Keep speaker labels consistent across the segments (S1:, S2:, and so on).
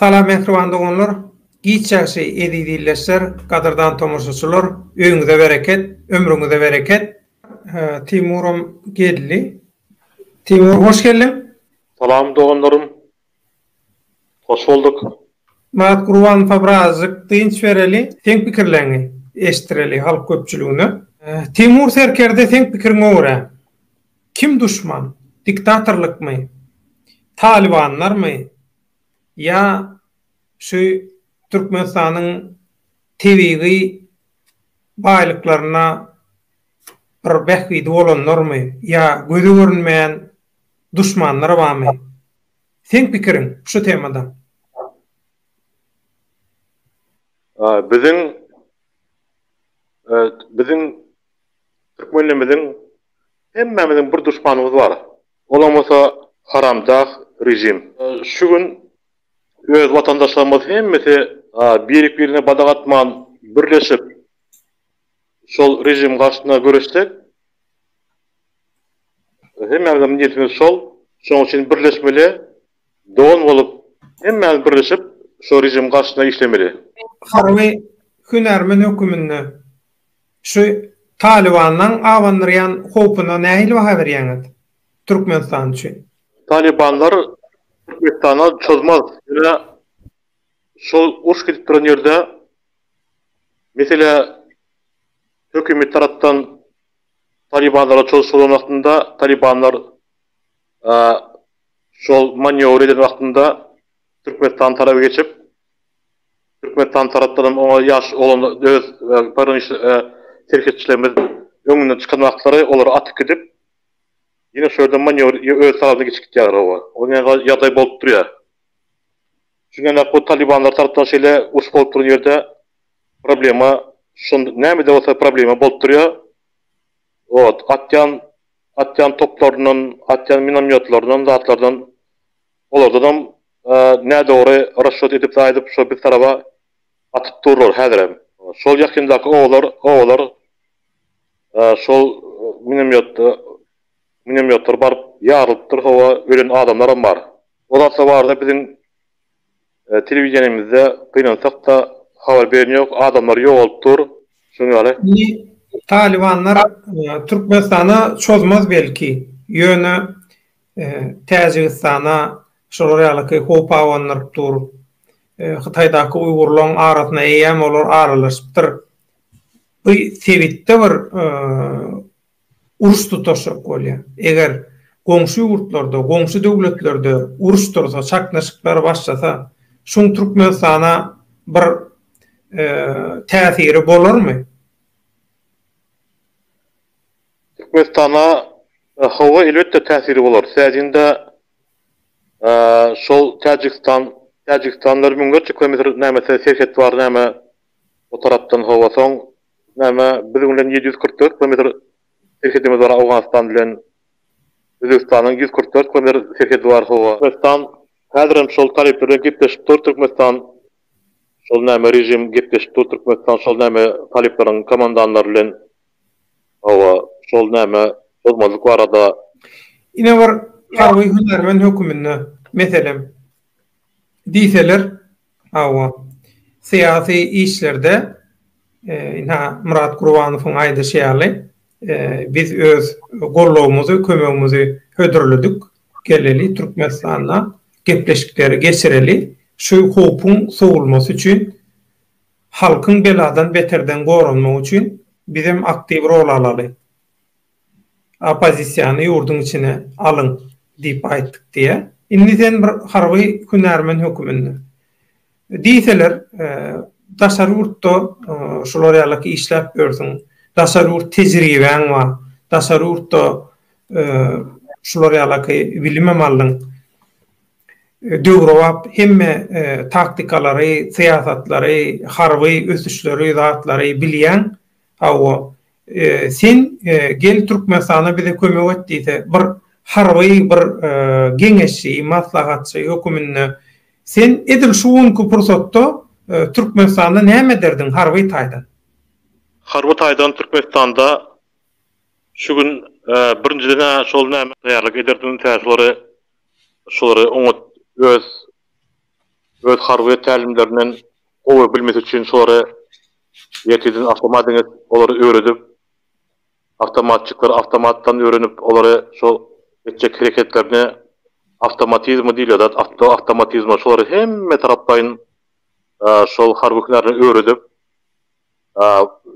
S1: Salam mähriban doganlar, giç ýagşy eziz ildeşler, gadyrdan tomaşaçylar, öýüňize bereket, ömrüňize bereket. Timuram geldi. Timur hoş geldiň. Salam doganlarym.
S2: Hoş bolduk. Magat Gurban
S1: uka birazjyk dynç bereli, seň pikirleriňi eşitdireli halk köpçüligine. Timur serkerde seň pikiriňe görä kim duşman, diktatorlykmy, talybanlarmy ýa şu Türkmenistanyň tebigy baýlyklaryna bir bähbidi bolanlarmy ýa göze görünmeýän duşmanlar barmy? Seň pikiriň şu temada? Biziň
S2: biziň türkmenlimiziň hemmämiziň bir duşmanymyz bar. Olam bolsa haramdag rejim. Şu gün öz watandaşlarymyz hemmesi birik birine badak atman birleşip Şol režim garşysyna göreşsek, hemmämizem niýetimiz şol. Şonuň üçin birleşmeli, dogan bolup, hemmämiz birleşip, şo režim garşysyna işlemeli. Harby
S1: hünärmen höküminde şu Talybanlaň abandyrýan howpuna nähili baha berýäňiz Türkmenistan üçin? Talybanlar
S2: Türkmenistana çozmaz. Ýöne şol uruş gidip duran ýerde Meselä, hökümet tarapdan talybanlara çozşy bolan wagtynda, talybanlar şol manýowr eden wagtynda Türkmenistan taraba geçip, Türkmenistan tarapdanam oňa ýaş oglan öz pograniçni serhetçilerimiz öňünden çykan wagtlary olary atyp gidip, ýene şo ýerden manýowr öz tarapyna geçip gidýärler oba. Ol ýagdaý bolup durýar. Şunanak bu talibanlar tarapdan şeýle uruş bolup duran ýerde problema şonda nämede bolsa problema bolup durýar. Ot atýan atýan toplaryndan atýan minomýotlaryndan zatlardan olardanam nädogry rasşot edip aýdyp şo biz taraba atyp durlar häzirem. Şol ýakyndaky obalar obalar şol minomýotda Muňem ýokdur baryp ýarylypdyr howa ölen adamlaram bar. O zatlar barada biziň telewideniýemizde gynansakda habar beren ýok adamlar ýogalyp dur şoň ýaly. Indi talybanlar
S1: Türkmenistana çozmaz belki ýöne Täjigistana şolar ýalyky howp abandyryp dur. Hytaýdaky uýgurlaň arasyna eýýäm olar aralaşypdyr. Bu sebitde bir uruş tutaşjak bolýar. Eger goňşy ýurtlarda, goňşy döwletlerde uruş tursa, çaknyşyklar başlasa, şuň Türkmenistana bir täsiri bolarmy?
S2: Türkmenistana hawa, elbetde täsiri bolar. Täjinde şol Täjigistan, Täjigistan bir müňlerçe kilometr näme serhet bar, näme o tarapdan hawa, soň Näme, biziň bilen ýedi ýüz kyrk dört kilometr serhedimiz bar Owganystan bilen. Özbegistanyň ýüz kyrk dört kilometr serhedi bar hawa. Türkmenistan häzirem şol talyplar bilen gepleşip dur Türkmenistan şol näme režim gepleşip dur Türkmenistan şol näme talyplaryň komandanlary bilen hawa şol näme bozmazlyk barada. Ine bir
S1: harby hünärmen höküminde meselem diýseler Hawa. Syýasy işlerde, ynha, Myrat Gurbanowyň aýdyşy ýaly, biz öz gollawymyzy, kömegimizi hödürledik, geleli Türkmenistanda gepleşikleri geçireli, şu howpuň sowulmasy üçin, halkyň beladan beterden goranmagy üçin bizem aktiw rol alaly. Oppozisiýany ýurduň içine alyň diýip aýtdyk diýä. Indi sen bir harby hünärmen höküminde. Diýseler, daşary ýurtda şular ýalyky işläp ýörsüň, daşary ýurt tejribäň bar, daşary ýurtda şular ýalyky bilimem aldyň, döwrebap hemme taktikalary, syýasatlary, harby ösüşleri, zatlary bilýäň. Hawa, sen gel Türkmenistana bize kömek et diýse, bir harby bir geňeşçi, maslahatçy höküminde sen edil şu günki pursatda Türkmenistanda näme ederdiň harby taýdan? Harby
S2: taýdan Türkmenistanda şu gün birinjiden-ä şol näme taýýarlyk ederdim, tä şolary şolary oňat öz öz harby tälimlerinden gowy bilmesi üçin şolary Ýekeýjeden awtomat diňe olary öwredip, awtomatçyklary awtomatdan öwrenip, olary şo etjek hereketlerine awtomatizmi diýilýär zat, awtomatizmi. Şolary hemme taraplaýyn şol harby hünärine öwredip,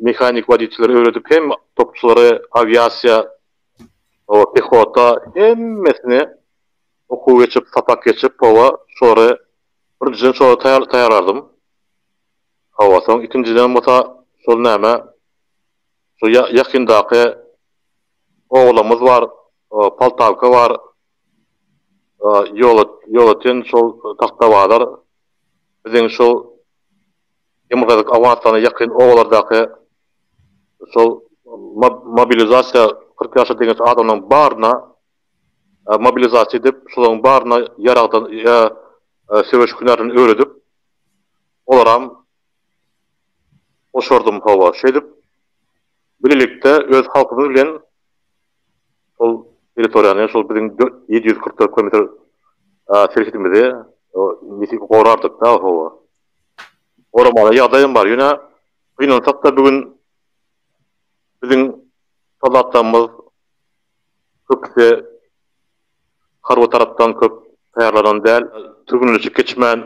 S2: mehanik wodiçilere öwredip, hem topçulary, awiasiýa, hawa, pehota, hemmesini okuw geçip, sapak geçip, hawa, şolary birinjiden şolara taýýarlardym. Hawa soň ikinjiden bolsa şol näme şu ýakyndaky oglumyz bar Poltawka bar ýolöten şol Tahtabazar biziň şu Ýymgyryk Owganystana ýakyn obalardaky şol mobilizasiýa kyrk ýaşa deňeç adamlaryň baryna mobilizasiýa edip şolaryň baryna ýaragdan söweş hünärini öwredip olaram goşardym hawa. Şeýdip, bilelikde öz halkymyz bilen şol territoriýany, şol biziň ýedi ýüz kyrk dört kilometr serhetimizi nitelik gorardyk-da, hawa. Goramaly ýagdaýam bar. Ýöne gynansak-da, bu gün biziň soldatlarymyz köpüsi harby tarapdan köp taýýarlanan däl. Türgenleşik geçmän,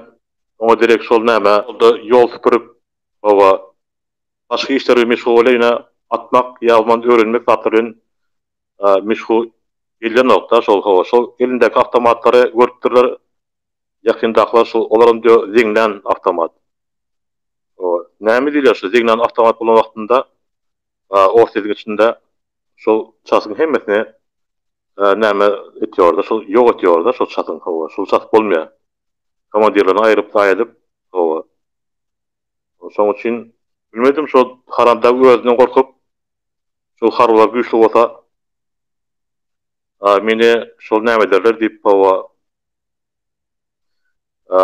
S2: Oňa derek şol näme, ol-da ýol süpürip, hawa, başga işler bilen meşgul bolýa-da, atmak ýa umuman öwrenmek zatlary bilen meşgul edýänok-da, şol, hawa, şol elindäki awtomatlary görüpdirler, ýakyndakylar şol, olaram diýýär, zeňňän awtomat. Hawa, näme diýilýär şu zeňňän awtomat bolan wagtynda, orsýetiň içinde şol çatyň hemmesini näme edýär-de, şol ýok edýär-de, şol çatyň, hawa, şol çat bolmaýar. komandirlerini aýryp taý edip, hawa. Şoň üçin, bilmedim, şo Haram dag özünden gorkup, şu harbylar güýçli bolsa, a, meni şol näme ederler diýip, hawa, a,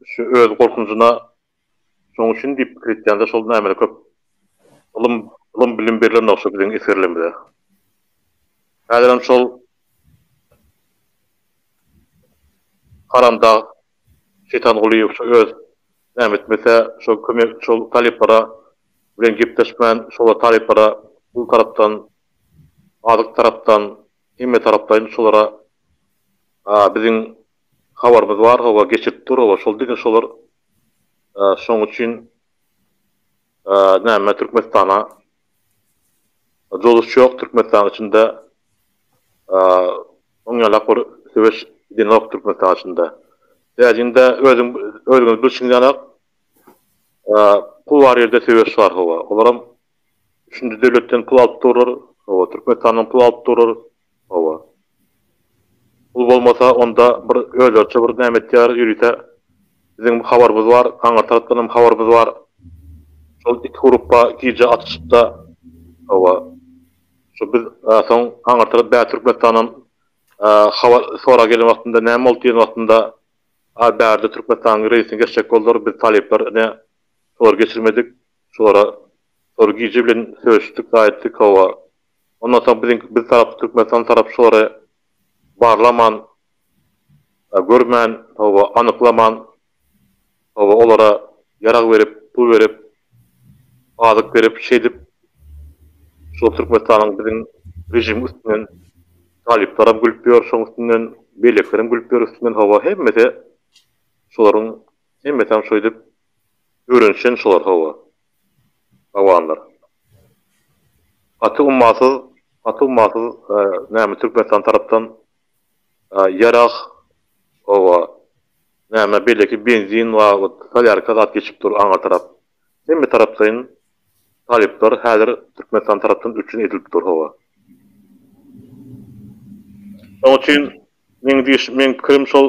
S2: şu öz gorkunjyna Şoň üçin diýip pikir etýändir şol nämeler köp ylym ylym bilim berilenok şo biziň esgerlerimize. Häzirem şol haramdag Şeýtan Gulyýew şo öz näme etmese şo kömek şol talyplara bilen gepleşmän şolar talyplara pul tarapdan azyk tarapdan hemme taraplaýyn şolara biziň Habarymyz bar hawa geçirip dur hawa şol diňe şolar şoň üçin näme türkmenistana jozuşy ýok türkmenistanyň içinde oň ýalak bir söweş gidenok türkmenistanyň içinde täjinde özüň özüňiz bilşiňiz ýalak pul bar ýerde söweş bar hawa olaram üçünji döwletden pul alyp durlar hawa türkmenistanyň pul alyp durlar. Hawa. Pul bolmasa, onda bir özlerçe bir näme etýärler, ýörite biziň habarymyz bar, aňry tarapdan hem habarymyz bar. Şol iki grupba gije atyşypda. Hawa. Şu biz soň aňry tarap bä Türkmenistandan habar sorag gelen wagtynda näme boldy diýen wagtynda, a bärde Türkmenistanyň reýsini geçjek boldular, biz talyplar ine şolary geçirmedik, şolara şolar gije bilen söýüşdik, zaýa etdik, hawa. Ondan soň biziňki biz tarap Türkmenistan tarap şulary barlaman we görmän hawa anyklaman hawa olara ýarag berip pul berip azyk berip şeýdip şol Türkmenistanyň biziň režim üstünden talyplaram gülüp ýör şoň üstünden beýlekilerem gülüp ýör üstünden hawa hemmesi şolaryň hemmesem şoýdip öwrenişen şolar hawa. Awanlar. Gaty ummasyz, gaty ummasyz näme Türkmenistan tarapdan ýarag oba näme beýleki benzin we solýarka zat geçip dur aňa tarap. Hemme taraplaýyn talyplar häzir Türkmenistan tarapdan üpjün edilip dur howa. Şoň üçin meň diýiş meň pikirim şol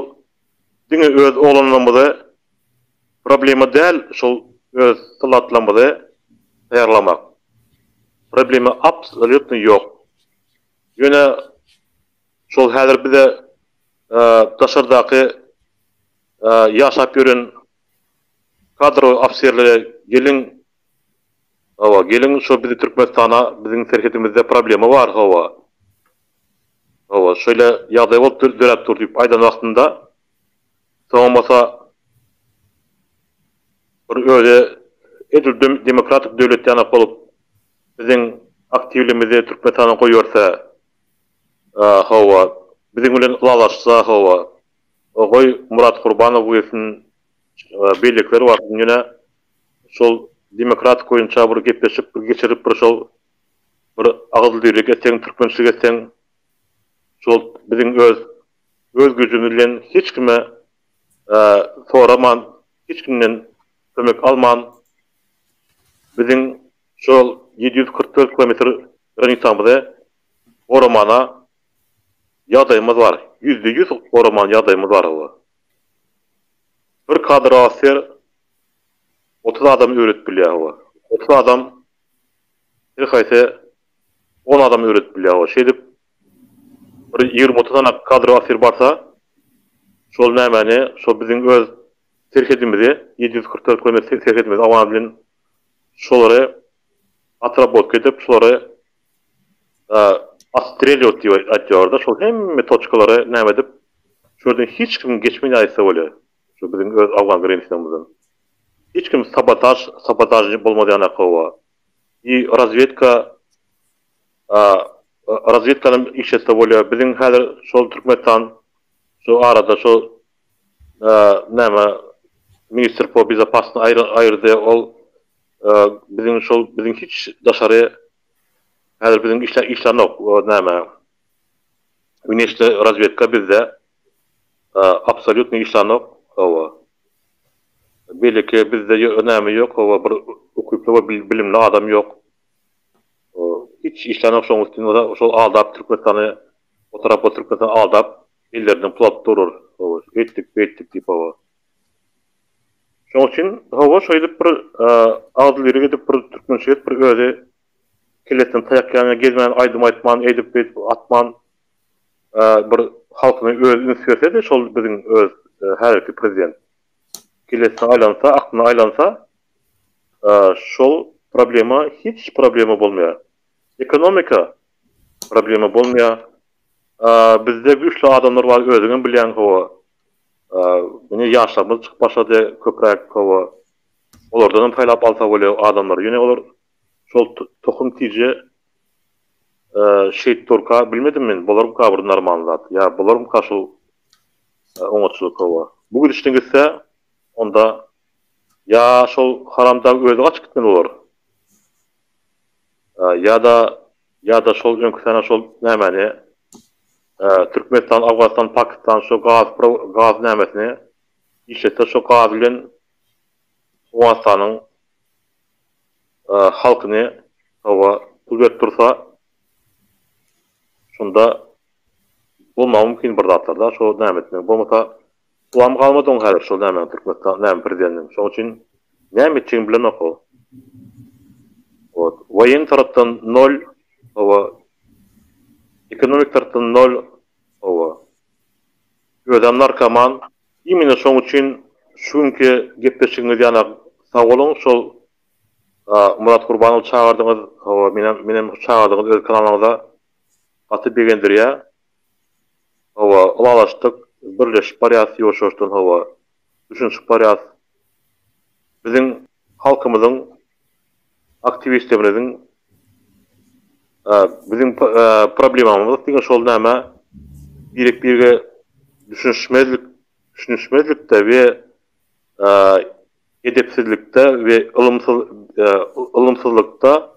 S2: diňe öz oglanlarymyzy Problema däl şol öz sylatlymyzy taýýarlamak. Problema absolýutno ýok. Ýöne şol häzir bize daşardaky ýaşap ýören kadrowy ofiserlere geliň, hawa, geliň şo bizi Türkmenistana, biziň serhedimizde problema bar, hawa, hawa, şeýle ýagdaý bolup döräp dur diýip aýdan wagtynda Soňam bolsa bir özi edil demokratik döwlet ýanak bolup biziň aktiwligimizi Türkmenistana goýberse hawa, biziň bilen ylalaşsa hawa, goý Murat Gurbanow girsin, beýlekiler barsyn ýöne şol demokratik boýunça bir gepleşik bir geçirip bir şol bir agyzyldyrylyk etseň, türkmençilik etseň şol biziň öz öz güjümiz bilen hiç kime soraman, hiç kimden kömek alman biziň şol ýedi ýüz kyrk dört kilometr granisamyzy goramana ýagdaýymyz bar. Ýüzde ýüz goraman ýagdaýymyz bar olar. Bir kadr offiser otuz adamy öwredip bilýär hawa. Otuz adam her haýsy on adamy öwredip bilýär hawa. Şeýdip Bir ýigrimi-otuz sanak kadr asyr barsa, şol nämäni, şo biziň öz serhedimizi, ýedi ýüz kyrk dört kilometr serhedimizi awan edilen şolary otrabotka edip, şolary otstrelýować diýip aýdýarlar-da, şol hemme toçkalary näme edip, şu ýerden hiç kim geçmän ýaýytsa bolýar, şu biziň öz awgan grensýamyzdan. Hiç kim sabotaž, sabotažnik bolmaz ýanakka oba. I razwedka. Razwedkanyň iş etse bolýar. Biziň häzir şol Türkmenistan şu arada şu näme ministr po bezopasno aýyrdy. Ol biziň şol biziň hiç daşary häzir biziň işle işlänok. Näme Wneşne razwedka bizde absolýutno işlänok. Hawa. Beliki bizde näme ýok. Hawa bir ukyply we bilimli adam ýok. Hiç işlänok şoň üstüni bolsa şol aldap Türkmenistany o tarap bolup Türkmenistan aldap ellerinden pul alyp durur hawa şeýtdik beýtdik diýip hawa. Şoň üçin hawa şeýdip bir agzybirlik edip bir türkmen jigit bir özi kellesine taýak ýanýan gezmän aýdym aýtman eýdip beýdip atman bir halkyna özi üns bersedi şol biziň öz häzirki prezident kellesine aýlansa aklyna aýlansa Şol problema hiç problema bolmaýar. Ekonomika problema bolmaýar. Bizde güýçli adamlar bar özüňem bilýäň hawa. Indi ýaşlarymyz çykyp başlady köpräk hawa. Olardanam saýlap alsa bolýar adamlary. Ýöne olar şol tohum tije şeýt durka bilmedim men bularmyka bir normalny zat. Ýa bularmyka şol oňatçylyk hawa. Bu gidişine gitse onda Ýa şol haramdag özi gaçyp gitmeli bolar. Ýa-da ýa-da şol öňki sene şol nämäni Türkmenistan Afganystan Pakistan şo gaz gaz nämesini işletse şo gaz bilen Owganystanyň halkyny hawa pul berip dursa şonda bolmagy mümkin bir zatlar da şo nämesini bolmasa Pullam galmady oň häzir şol nämäň Türkmenistan näme prezidentiň şoň üçin näme etjegini bilenok ol. Wot waýen tarapdan nol hawa ekonomik tarapdan nol hawa özem narkoman imine şoň üçin şu günki gepleşigiňiz ýana sagboluň şol Murat Gurbanowy çagyrdyňyz hawa menem menem çagyrdyňyz öz kanalyňyza gaty begendirýä. Hawa, ylalaşdyk. Birleşip barýas ýoşuşdan hawa. Düşünişip barýas. Biziň halkymyzyň aktiwistlerimiziň biziň problemamyz diňe şol näme birek-birege düşünişmezlik, düşünişmezlikde we edepsizlikde we ylymsyz ylymsyzlykda,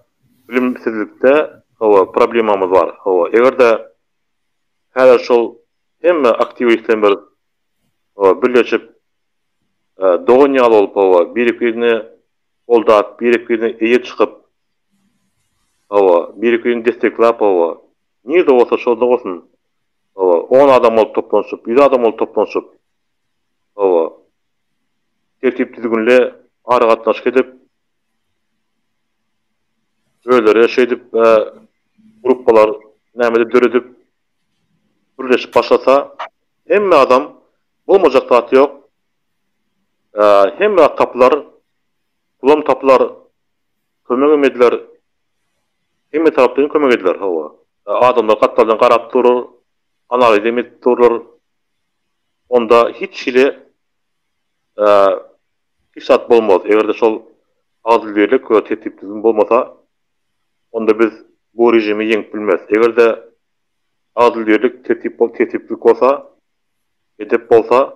S2: bilimsizlikde hawa problemamyz bar. Hawa, eger-de Häzir şol hemme aktiwistler bir birleşip dogan ýaly bolup hawa biri birine goldap biri birine eýe çykyp hawa biri birini desseklap hawa nirde bolsa şonda bolsun hawa on adam bolup toplanyşyp ýüz adam bolup toplanyşyp hawa tertip düzgünli aragatnaşyk edip Özleri-de şeýdip gruppalar nämedir döredip, gürleşip başlasa, hemme adam bolmajak zat ýok, hemme zat tapylar, pulam tapylar, kömegem ediler, hemme tarapdan kömek ediler, hawa. Adamlar gatlardan garap durur, analizem edip durlar, onda hiç hili. hiç zat bolmaz. Eger-de şol adylbirlik we tertip-düzgün bolmasa, onda biz bu režimi ýeňip bilmeris. Eger-de adylbirlik, tertip-tertiplik bolsa, edep bolsa,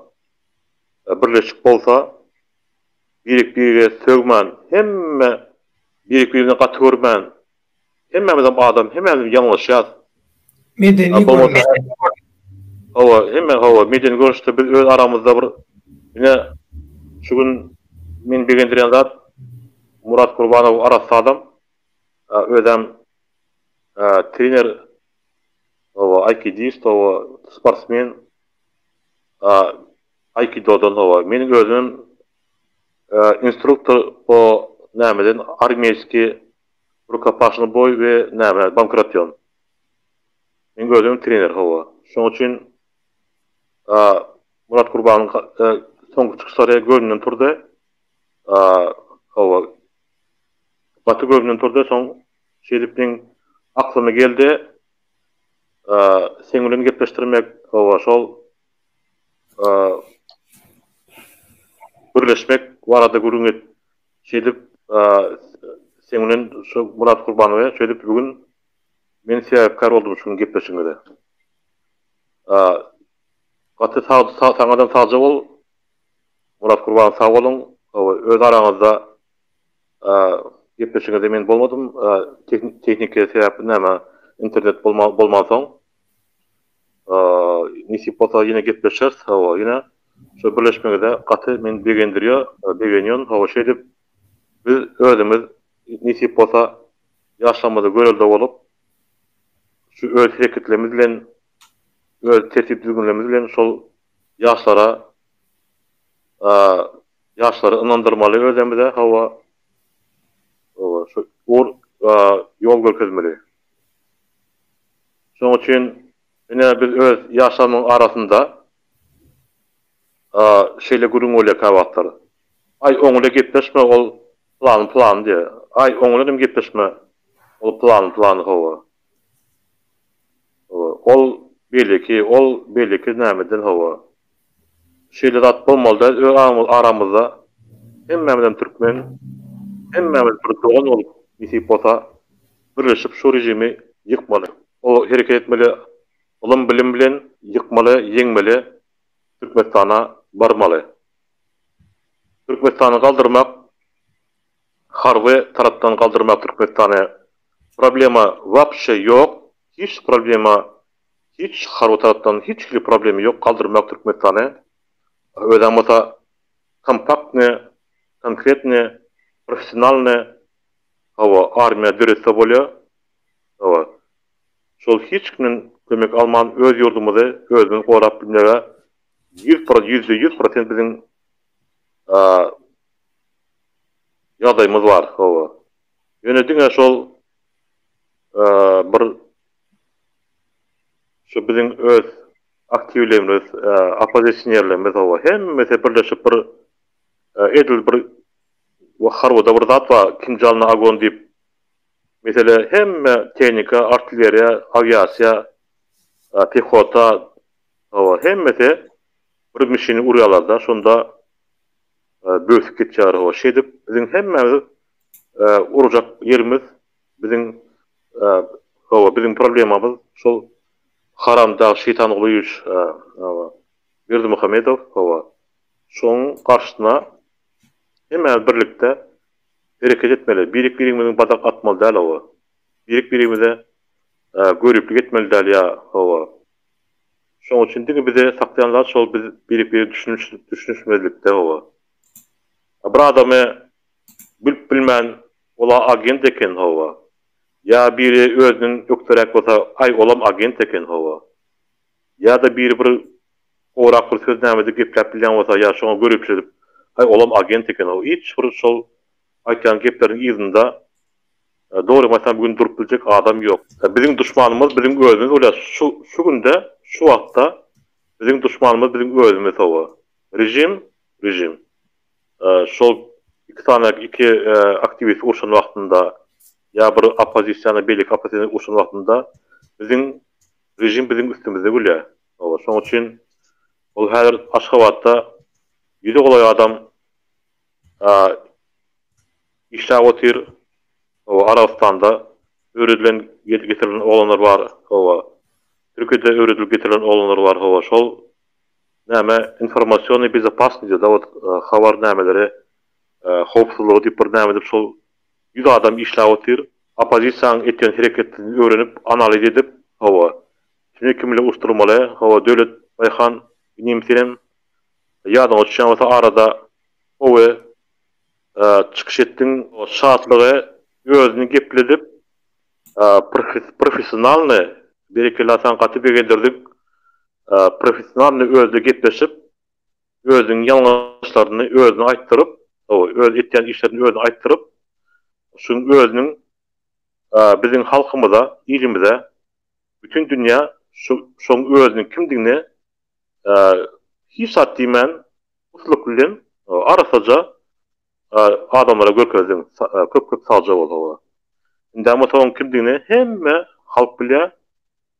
S2: birleşik bolsa, birek-birege sögmän, hemme birek-birini gaty görmän, Hemmämizem adam hemmämizem ýalňyşýas. Medeni
S1: görnüşde. Hawa hemme
S2: hawa medeni görnüşde biz öz aramyzda bir ine şu gün meni begendirýän zat Murat Gurbanow arassa adam özem trener hawa aýkidist hawa sportsmen aýkidodan hawa meniň özümem instruktor po nämeden armiýeskiý Rukopaşnoý boý we näme bankrotýon. Meň özüm trener hawa. Şoň üçin a Murat Gurbanyň soňky çykyşlary göwnümden turdy. A hawa. Gaty göwnümden turdy. Soň şeýdip meň aklyma geldi. A seň bilen gepleşdirmek hawa şol a gürleşmek barada gürrüň et Şeýdip, sen bilen şu Myrat Gurbanowa şeýdip bu gün men sebäpkär boldum şu gün gepleşigiňize. Gaty saňadan sagja bol, Myrat Gurbanow sag boluň. Öz araňyzda gepleşigiňizde men bolmadym, tehniki sebäpli näme internet bolmansoň. Nesip bolsa ýene gepleşeris hawa ýene şu birleşmeňize gaty meni begendirýär begenýän hawa şeýdip biz özümiz nesip bolsa ýaşlarymyza görelde bolup şu öz hereketlerimiz bilen öz tertip düzgünlerimiz bilen şol ýaşlara ýaşlary ynandyrmaly özemize hawa şu ýol görkezmeli. Şonuň üçin ine biz öz ýaşlarymyň arasynda şeýle gürrüň bolýar käwagtlar. Aý, oňle gepleşme, ol plany-plany diýýär. Aý, oňle hem gepleşme, ol plany-plany, hawa. Ol beýleki, ol beýleki nämeden, hawa. Şeýle zat bolmaly däl öz aramyzda hemmämizem türkmen hemmämiz bir dogan bolup nesip bolsa birleşip şu rejimi ýykmaly o hereket etmeli ylym bilim bilen ýykmaly ýeňmeli türkmenistana barmaly türkmenistany galdyrmak harby tarapdan galdyrmak türkmenistany problema wapşe ýok hiç problema Hiç harby tarapdan hiç hili problemi ýok galdyrmak Türkmenistany. Özäň bolsa kompaktny, konkretny, professionalny hawa armiýa döretse bolýa hawa. Şol hiç kimden kömek alman öz ýurdumyzy özümiz gorap bilmege ýüz pro ýüzde ýüz prosent biziň ýagdaýymyz bar hawa. Ýöne diňe şol bir Şu biziň öz aktiwlerimiz, oppozisionerlerimiz hawa, hemmesi birleşip bir edil bir harbyda bir zat bar, Kim Jong Agon diýip, mesele hemme tehnika, artilleriýa, awiasiýa, pehota, hawa, hemmesi bir mişini urýarlar-da, şonda bösüp gitýär, hawa, şeýdip biziň hemmämiz urjak ýerimiz Biziň hawa biziň problemamyz şol haram dag şeýtan ulyýewiç hawa Berdimuhamedow hawa şoň garşysyna hemmämiz birlikde hereket etmeli birik birigimiziň badak atmaly däl hawa birik birigimize göriplik etmeli däl ýa hawa şoň üçin diňe bize saklaýan zat şol biz birik biri düşünişmezlikde hawa bir adamy Bilip bilmän, ol-a agent eken, hawa. Ýa biri özünden ökderäk bolsa, aý, olam agent eken, hawa. Ýa-da biri bir gowrak bir söz nämedir gepläp bilýän bolsa, ýa şoňa göriplik edip, aý, olam agent eken, hawa. Hiç bir şol aýtýan gepleriniň yzynda, dogrymy aýtsam, bu gün durup biljek adam ýok. Biziň duşmanymyz biziň özümiz bolýar. Şu günde, şu wagtda biziň duşmanymyz biziň özümiz, hawa. Režim, režim. Şol iki sany iki aktiwist urşan wagtynda ýa bir oppozisiýany beýleki oppozisiýa urşan wagtynda biziň režim biziň üstümizde gülýär. Hawa, şoň üçin ol häzir Aşgabatda ýüzi golaý adam işläp otyr. Hawa, Arabystanda öwredilen getirilen oglanlar bar. Hawa, Türkiýede öwredilip getirilen oglanlar bar. Hawa, şol Näme informasionnay bezopasnidi zawod habar nämeleri howpsuzlygy diyip bir näme edip şol ýüz adam işläp otyr opozisiýaň etýän hereketini öwrenip analiz edip hawa tüne kimle uçdurmaly hawa Döwlet Baýhan inim senem ýadyňa düşýän bolsa arada owe çykyş etdiň şatlygy özüni gepledip professionalny berekella saňa gaty begendirdik professionalnyý özde gepleşip, özüniň ýalňyşlaryny özüne aýtdyryp, öz etýän işlerini özüne aýtdyryp, şu özüniň biziň halkymyza, ilimize, bütin dünýä şu şoň özüniň kimdigini hiç zat diýmän, ussatlyk bilen arassaja adamlara görkezdiň. Köp-köp sagja bol. Indama soň kimdigini hemme halk bilýär.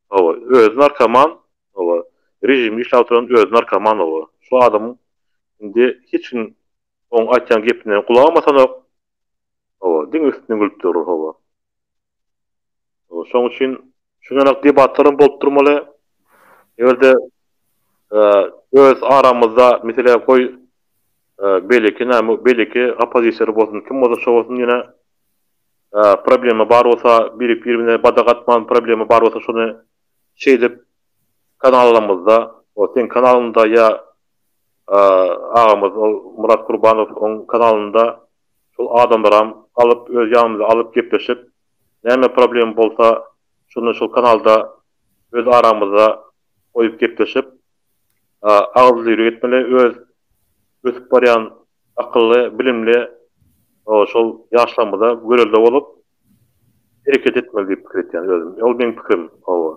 S2: Hawa, özi narkoman, hawa, režimi işläp oturan özi narkoman, hawa, şu adamyň indi hiç kim oň aýtýan gepine gulak asasanok, hawa, diňe üstünden gülüp durur, hawa. Hawa, şoň üçin şuňarak debatlar hem bolup durmaly, eger-de öz aramyzda, meselem, goý, beýleki näme, beýleki oppozisiýaly bolsun, kim bolsa şo bolsun ýene Problema bar bolsa biri birine badak atman problema bar bolsa şony şeýdip kanalalymyzda ol seň kanalyňda ýa agamyz ol Murat Gurbanow oň kanalynda şol adamlaram alyp öz ýanymyza alyp gepleşip näme problema bolsa şony şol kanalda öz aramyzda goýup gepleşip agyzly ýürek etmeli öz ösüp barýan Akylly, bilimli şol ýaşlarymyza görelde bolup, hereket etmeli diýip pikir etýän özüm. Ol meň pikirim, hawa.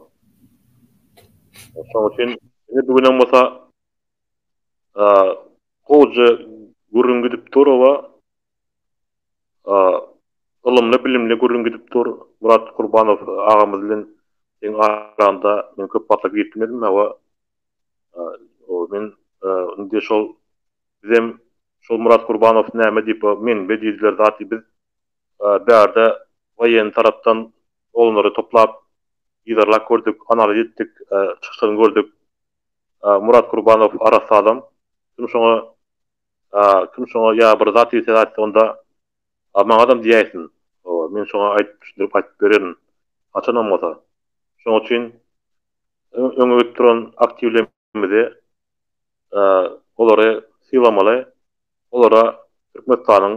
S2: Şoň üçin ine bu günem bolsa gowja gürrüň gidip dur, hawa. Ylymly, bilimli gürrüň gidip dur. Murat Kurbanow agamyz bilen seň araňda men köp wagtlap girip bilmedim, hawa. Men indi şol Bizem şol Murat Kurbanow näme diýip o menbe diýdiler zat biz bärde waýenni tarapdan olanlary toplap yzarlap gördük analiz etdik çykyşlaryny gördük Murat Kurbanow arassa adam kim şoňa kim şoňa ýa bir zat diýse aýtsa onda maňadam diýäýsin men şoňa aýdyp düşündirip aýdyp bererin haçanam bolsa şoň üçin öňe gidip duran aktiwle Bizi olary sylamaly, olara Türkmenistanyň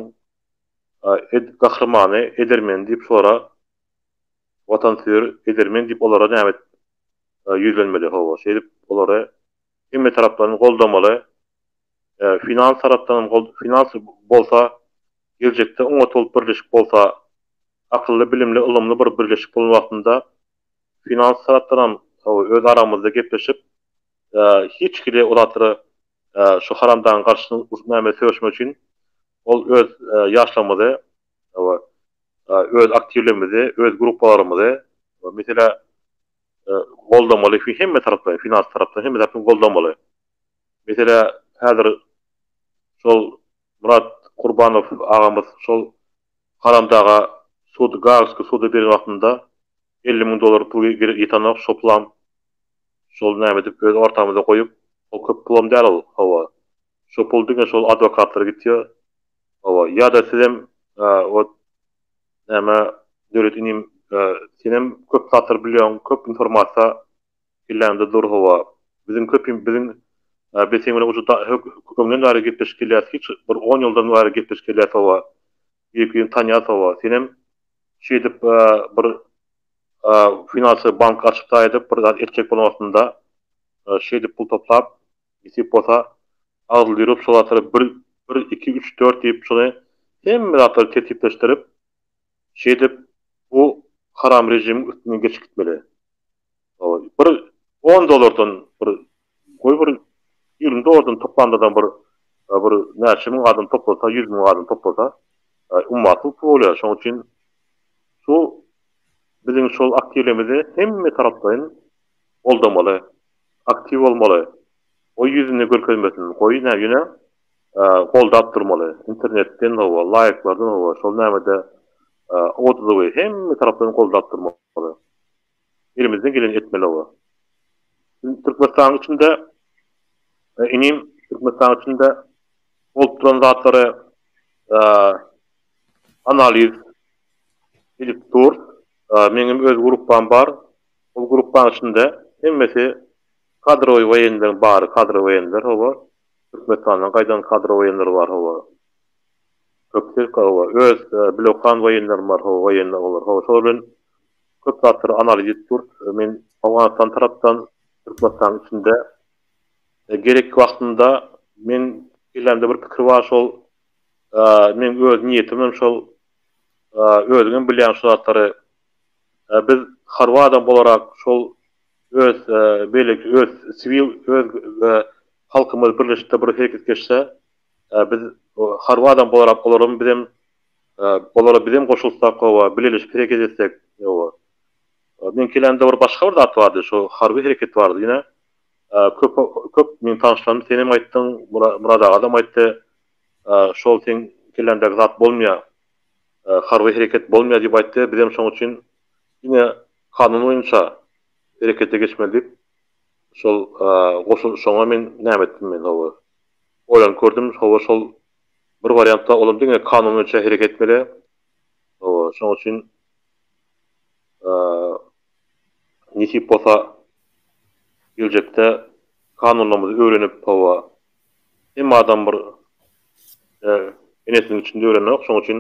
S2: gahrymany, edermeni diýip şolara watansöýer edermen diýip olara näme ýüzlenmeli hawa şeýdip olary hemme tarapdan goldamaly finans tarapdanam finans bolsa geljekde oňat bolup birleşik bolsa akylly bilimli ylymly bir birleşik bolan wagtynda Finans tarapdanam öz aramyzda gepleşip, hiç hili ol atyra şu haramdagyň garşysyny urup näme söweşmek üçin ol öz ýaşlarymyzy, öz aktiwlerimizi, öz gruppalarymyzy, meselä, goldamaly, hemme taraplaýyn, finans tarapdan hemme tarapdan goldamaly. Meselä, häzir şol Murat Kurbanow agamyz şol haramdaga sud Gaagski suda beren wagtynda elli müň dollar pul ýetanok şo pulam şol näme edip öz ortamyza goýup ol köp pulam däl ol hawa şo pul diňe şol adwokatlara gitýa hawa ýada sizem ot näme Döwlet inim senem köp zatlar bilýoň köp informasiýa Kellende dur hawa. Biziň köpim biziň biz seň bilen uje da hök öňden bäri gepleşip gelýäs hiç bir on ýyldan bäri gepleşip gelýäs hawa. Birbirini tanýas hawa. Senem şeýdip bir finansowy bank açypda edip bir zat etjek bolan wagtynda şeýdip pul toplap nesip bolsa agzyl ýürüp şol zatlary bir bir iki üç dört diýip şony hemme zatlary tertipleşdirip Şeýdip, bu haram režimiň üstünden geçip gitmeli. Bir on dollardan bir, goý bir ýigrimi dollardan toplandadam bir bir näçe müň adam toplasa, ýüz müň adam toplasa, ummasyz pul bolýar. Şonuň üçin şu biziň şol aktiwlerimizi hemme taraplaýyn goldamaly, aktiw bolmaly. Goý ýüzüni görkezmesin, goý nä ýöne goldap durmaly, internetden hawa, laýklardan hawa, şol nämede odazowy hemme tarapdan goldap durmaly. Elimizden geleni etmeli hawa. Türkmenistanyň içinde inim Türkmenistanyň içinde bolup duran zatlary analiz edip dur. Meňem öz gruppam bar. Ol gruppanyň içinde hemmesi kadrowy woýenleriň bary, kadrowy woýenler hawa. Türkmenistandan gaýdan kadr waýenler bar hawa. Köp sirk hawa. Öz bilokan waýenlerim bar hawa waýenni aglar hawa şolar bilen köp zatlary analiz edip durt. Men Owganystan tarapdan Türkmenistanyň içinde gerek wagtynda meň kellämde bir pikir bar şol meň öz niýetim hem şol özüňem bilýäň şu zatlary biz harby adam bolarak şol öz beýleki öz siwil öz Halkymyz birleşipde bir hereket geçse biz harby adam bolarap olaram bizem olara bizem goşulsak howa bileleşip hereket etsek howa men kelemde bir başga bir zat bardy şu harby hereket bardy ýene köp köp meň tanyşlarym senem aýtdyň Murad agadam aýtdy şol seň kelläňdäki zat bolmaýa harby hereket bolmaýa diýip aýtdy bizem şoň üçin ine kanun boýunça herekete geçmeli diýip Şol goşulşyňa men näme etdim men hawa? Oýlanyp gördüm, hawa şol bir wariantda olam diňe kanun boýunça hereket etmeli. Hawa, şonuň üçin nesip bolsa geljekde kanunlarymyzy öwrenip, hawa, hemme adam bir enesiniň içinde öwrenok, şonuň üçin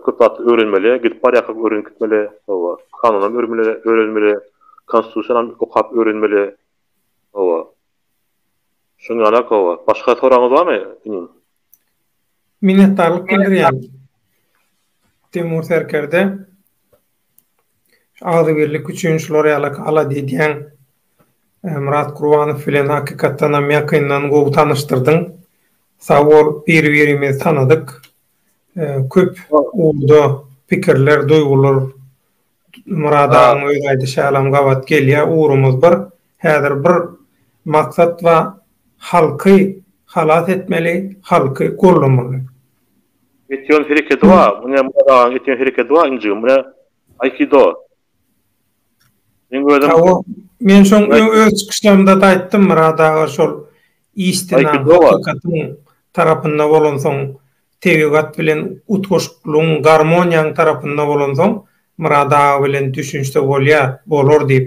S2: Köp zatly öwrenmeli, gidip barýarkak öwrenip gitmeli, hawa. Kanunam örmeli, öwrenmeli, konstitusiýanam okap öwrenmeli, hawa. Şuň ýaly-ak, hawa. Başga soragyňyz barmy, inim?
S1: Minnetdarlyk bildirýän Temur serkerde. Şu agzybirlik üçin şular ýalak alada edýän Myrat Gurbanow bilen hakykatdanam ýakyndan gowy tanyşdyrdyň. Sag bol, biri-birimizi tanadyk. köp ugurda pikirler, duýgular Murad agaň öz aýdyşy ýalam gabat gelýär. Ugrumyz bir. Häzir bir maksat bar. Halky halas etmeli, halky gollamaly.
S2: Etýän herekedi bar. Muny Murad agaň etýän herekedi bar injigim. Muny Aikido. Men özüm
S1: Hawa, men şoň öz çykyşlarymda da aýtdym Myrat aga şol işdina hakykatyn tarapynda bolansoň tebigat bilen utgaşyklygyň garmoniýaň tarapynda bolansoň Myrat aga bilen düşünişse bolýar, bolar diýip.